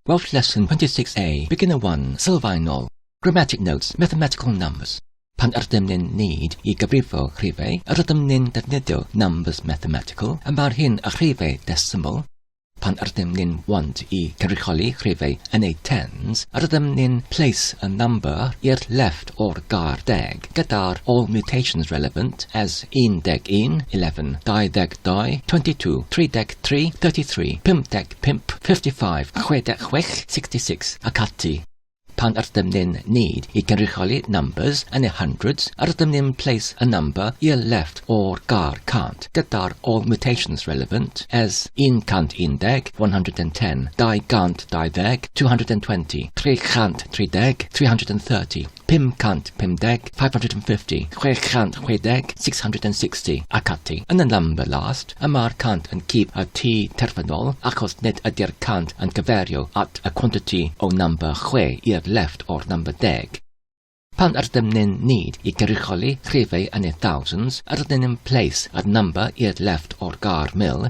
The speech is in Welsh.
Welsh Lesson 26A, Beginner 1, Sylfaenol, Grammatic Notes, Mathematical Numbers. Pan ydym ni'n nid i gyfrifo rhifau, yr ydym ni'n defnyddio numbers mathematical, y mae'r hyn a rhifau decimal, pan ydym ni'n want i cynrychioli rhifau yn eu tens, yr ydym ni'n place a number i'r left o'r gair deg, gyda'r all mutations relevant as 11, 11, 22, 22, 33, 33, 51, pump, fifty five, chwe deg chwech, sixty six, ac ati. Pan ydym ni'n need i gynrychioli numbers yn y hundreds, rydym ni'n place a number i'r left o'r gar cant gyda'r all mutations relevant as 110, 110, 220, 220, 330, 330, 550, 550, 660, 660, ac ati. Yn y number last, y mae'r cant yn cyf y tu terfynol achos nid ydy'r cant yn cyferio at y quantity o number 6 i'r left o'r number deg. Pan ydym ni'n need i gyrrycholi rhifau yn y thousands, rydyn ni'n place y number i'r left o'r gar mil,